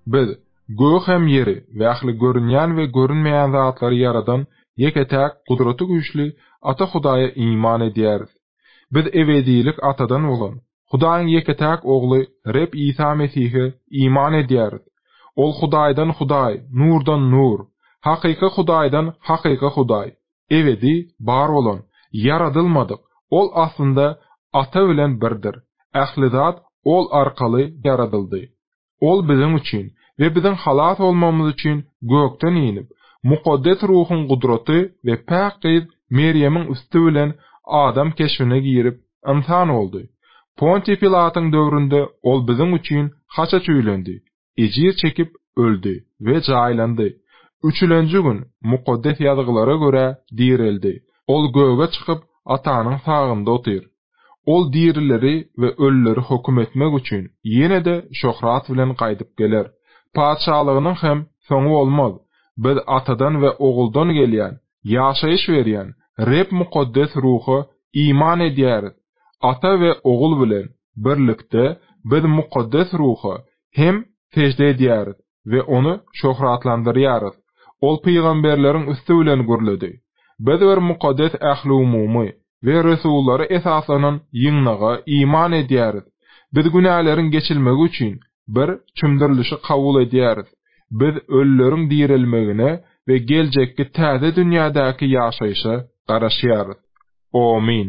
Biz, gögi hem ýeri we ähli görünýän we görünmeýän zatlary ýaradan ýeke-täk Gudratygüýçli Ata Hudaýa iman edýäris. Biz ebedilik Atadan bolan, Hudaýyň ýeke-täk Ogly Reb Isa Mesihe iman edýäris. Ol Hudaýdan Hudaý, Nurdan Nur, hakyky Hudaýdan hakyky Hudaý, ebedi bar bolan, ýaradylmadyk, Ol aslynda Ata bilen birdir, ähli zat Ol arkaly ýaradyldy. Ol biziň üçin we biziň halas bolmagymyz üçin gökden inip, Mukaddes Ruhuň gudraty we päk gyz Merýemiň üsti bilen adam keşbine girip, ynsan boldy. Pontiý Pilatyň döwründe Ol biziň üçin haça çüýlendi, ejir çekip, öldi we jaýlandy. Üçülenji gün Mukaddes Ýazgylara görä direldi. Ol göge çykyp, Atanyň sagynda otyr. Ol dirileri we ölüleri höküm etmek üçin ýene-de şöhrat bilen gaýdyp geler. Patyşalygynyň hem soňy bolmaz. Biz Atadan we Oguldan gelýän, ýaşaýyş berýän Reb Mukaddes Ruha iman edýäris. Ata we Ogul bilen birlikde biz Mukaddes Ruha hem sežde edýäris. we ony şöhratlandyrýarys. Ol pygamberleriň üsti bilen gürledi. Biz bir mukaddes ähliumumy we resullara esaslanan ýygnaga iman edýäris. Biz günäleriň geçilmegi üçin bir çümdürilişi kabul edýäris. Biz ölüleriň direlmegine we geljekki täze dünýädäki ýaşaýşa garaşýarys. Omyn.